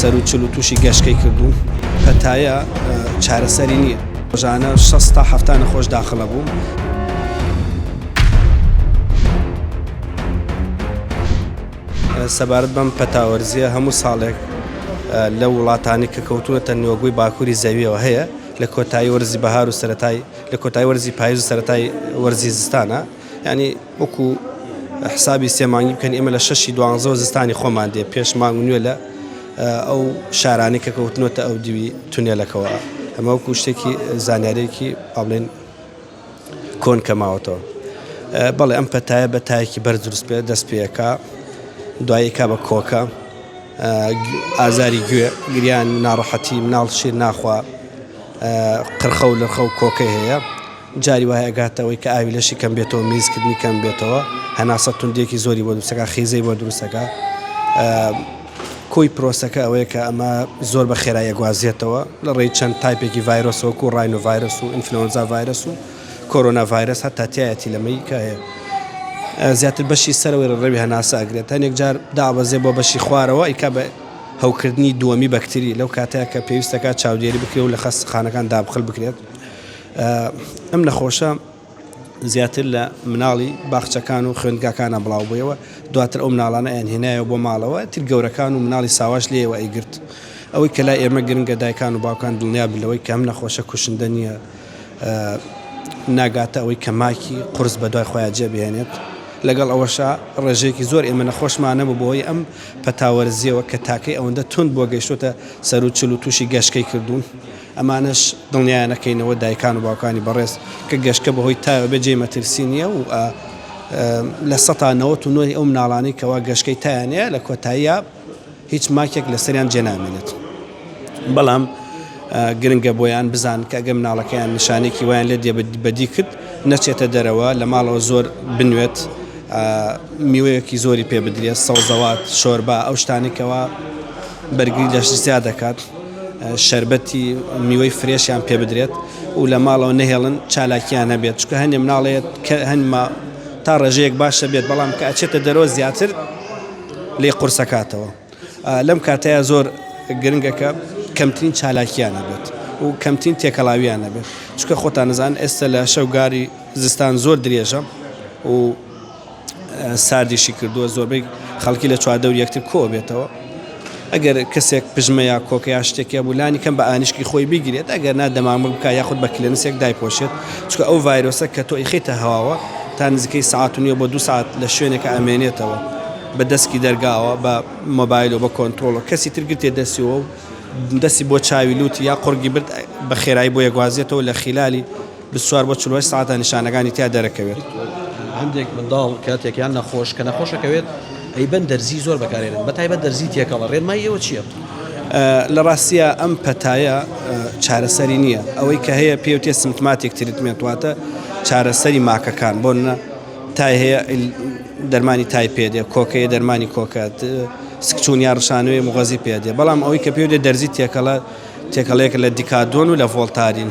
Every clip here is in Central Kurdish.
سەروو چل و تووشی گەشکەی کردووم. پەتایە چارەسەری نییە. ڕۆژانە شەست تا حەفتا نەخۆش داخل ئەبوو. سەبارەت بەم پەتاوەرزیە هەموو ساڵێک لە وڵاتانی کە کەوتونەتە نوێگوی باکووری زەویەوە هەیە لە کۆتایی وەرزی بەهار و سەتای لە کۆتای وەرزی پایز و سەتای وەرزی زستانە یانی وەکو حسابی سێ مانگی بکەن ئێمە لە شەشی دوانزەوە زستانی خۆمان دێ پێش مانگ نوێ لە ئەو شارانی کە کەوتنەوەتە ئەو دیوی تونێلەکەەوە ئەمە وەکو شتێکی زانیارێکی پابلێن کۆن کەماوەتەوە بەڵێ ئەم پەتایە بە تایەکی بەر دروست پێ دەست پێەکە دوایەکە بە کۆکە ئازاری گوێ گریان ناڕەحەتی مناڵ شیر ناخوا قرخە و لەخە و کۆکە هەیە جاری وایە ئەگاتەوەی کە ئاوی لەشی کەم بێتەوە میزکردنی کەم بێتەوە هەناسە توندیەکی زۆری بۆ دروستەکە خیزەی بۆ دروستەکە کۆی پرۆسەکە ئەوەیە کە ئەمە زۆر بە خێرایە گوازیێتەوە لە ڕێی چەند تایپێکی ڤایرۆسۆک و ڕاین و ڤایرس و ئینفلۆنزا ڤایرس و کۆرۆنا ڤایرس هەتا تایەتی لەمەی کە هەیە زیاتر بەشی سەرەوەی ڕێوی هەناسە ئەگرێت هەنێک جار دابەزێ بۆ بەشی خوارەوە ئیکا بە هەوکردنی دووەمی بەکتری لەو کاتەیە کە پێویستەکە چاودێری بکرێ و لە خەستخانەکان دابخل بکرێت ئەم نەخۆشە زیاتر لە مناڵی باخچەکان و خوێندگاکانە بڵاو بوویەوە دواتر ئەو مناڵانە ئەنهێنایەوە بۆ ماڵەوە تر گەورەکان و مناڵی ساواش لێەوە ئەیگرت ئەوەی کە لای ئێمە گرنگە دایکان و باوکان دڵنیا بلەوەی کەم نەخۆشە کوشندە نییە ناگاتە ئەوەی کە ماکی قرس بە دوای خۆیان جێبهێنێت لەگەڵ ئەوەشە ڕێژەیەکی زۆر ئێمە نەخۆشمانە بۆ بۆی ئەم پەتاوەرزیەوە کە تاکەی ئەوەندە تونند بۆ گەشتوتە سەر و چل و تووشی گەشتکەی کردوون ئەمانەش دڵنیایان ئەکەینەوە دایکان و باوکانی بەڕێز کە گەشکە بەهۆی تایەوە بێت جێی مەترسی نییە و لە سەتا نەوەت و نۆی ئەو مناڵانەی کەوا گەشکەی تایان هەیە لە کۆتاییا هیچ ماکێک لەسەریان جێ نامێنێت بەڵام گرنگە بۆیان بزان کە ئەگە مناڵەکەیان نیشانێکی وایان لێ دێ بەدی کرد نەچێتە دەرەوە لە ماڵەوە زۆر بنوێت میوەیەکی زۆری پێ بدرێت سەوزەوات شۆربا ئەو شتانێکەوە بەرگری لەش زیاد دەکات شەربەتی میوەی فرێشیان پێ بدرێت و لە ماڵەوە نەهێڵن چالاکیان هەبێت چکە هەندێ مناڵێت کە هەنما تا ڕێژەیەک باشە بێت بەڵام کە ئەچێتە دەرەوە زیاتر لی قورسەکاتەوە لەم کاتەیە زۆر گرنگەکە کەمترین چالاکیان هەبێت و کەمترین تێکەڵاویان نەبێت چکە خۆتان نزان ئێستا لە شەوگاری زستان زۆر درێژە و ساردیشی کردووە زۆربەی خەڵکی لە چواردەوری یەکتر کۆبێتەوە ئەگەر کەسێک پژمە یا کۆکە یا شتێکە بوو لانی کەم بە ئانیشکی خۆی بگرێت ئەگەر نا دەمامک بکە یاخود بە کلێنسێک دایپۆشێت چکە ئەو ڤایرۆسە کە تۆ ئیخیتە هەواوە تا نزیکەی سعات و نیە بۆ دو سعات لە شوێنێکە ئەمێنێتەوە بە دەسکی دەرگاوە بە مۆبایل و بە کۆنترۆڵ و کەسی تر گرتێ دەسیەوە و دەسی بۆ چاوی لوتی یا قڕگی برد بە خێرایی بۆ یەگوازێتەوە لە خیلالی بیست و چوار بۆ چل و هەشت سەعاتە نیشانەکانی تیا دەرەکەوێت. هەندێک منداڵ کاتێک یان نەخۆش کە نەخۆشەکەوێت ئەیبەن دەرزی زۆر بەکارێنن بە تایبەت دەرزی تێکەڵە ڕێنمای ئێوە چییە؟ لە ڕاستیە ئەم پەتایە چارەسەری نییە ئەوەی کە هەیە پێوتێ سمتماتێک تریتمێنت واتە چارەسەری ماکەکان بۆ نە تای هەیە دەرمانی تای پێدێ کۆکەیە دەرمانی کۆکات سکچون یا ڕشانوێ مغەزی پێدێ بەڵام ئەوەی کە پێوتێ دەرزی تێکەڵە تێکەڵەیەک لە دیکادۆن و لە ڤۆلتارین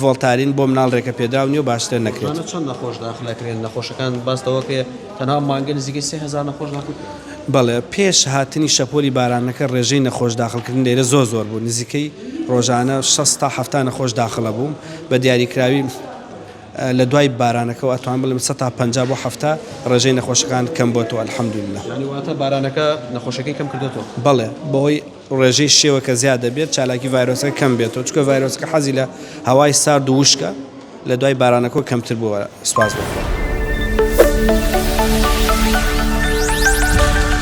ڤۆڵتارین بۆ مناڵ رێکە پێدراو نیەو باش سرێ نەکرێت. رۆژانە چەند نەخۆش داخل ئەکرێن؟ نەخۆشەکان باس لەوە کە تەنها مانگە نزیکەی سێ هەزار نەخۆش داخل کران. بەڵێ پێش هاتنی شەپۆلی بارانەکە رێژەی نەخۆش داخل کردن لێرە زۆر زۆر بوو نزیکەی رۆژانە شەست تا حەفتا نەخۆش داخل ئەبوو بە دیاری کراوی لە دوای بارانەکەوە ئەتوان بڵێم سەد تا پەنجا بۆ حەفتا رێژەی نەخۆشەکان کەم بۆتەوە الحمدللە. یانی واتە بارانەکە نەخۆشەکەی کەم کردۆتەوە. بەڵێ بەهۆی ڕێژەی شێوەکە زیاد دەبێت، چالاکی ڤایرۆسەکە کەم بێتەوە، چونکە ڤایرۆسەکە حەزی لە هەوای سارد و وشکە، لە دوای بارانەکەوە کەمتر بووە. سوپاس بۆ خوا.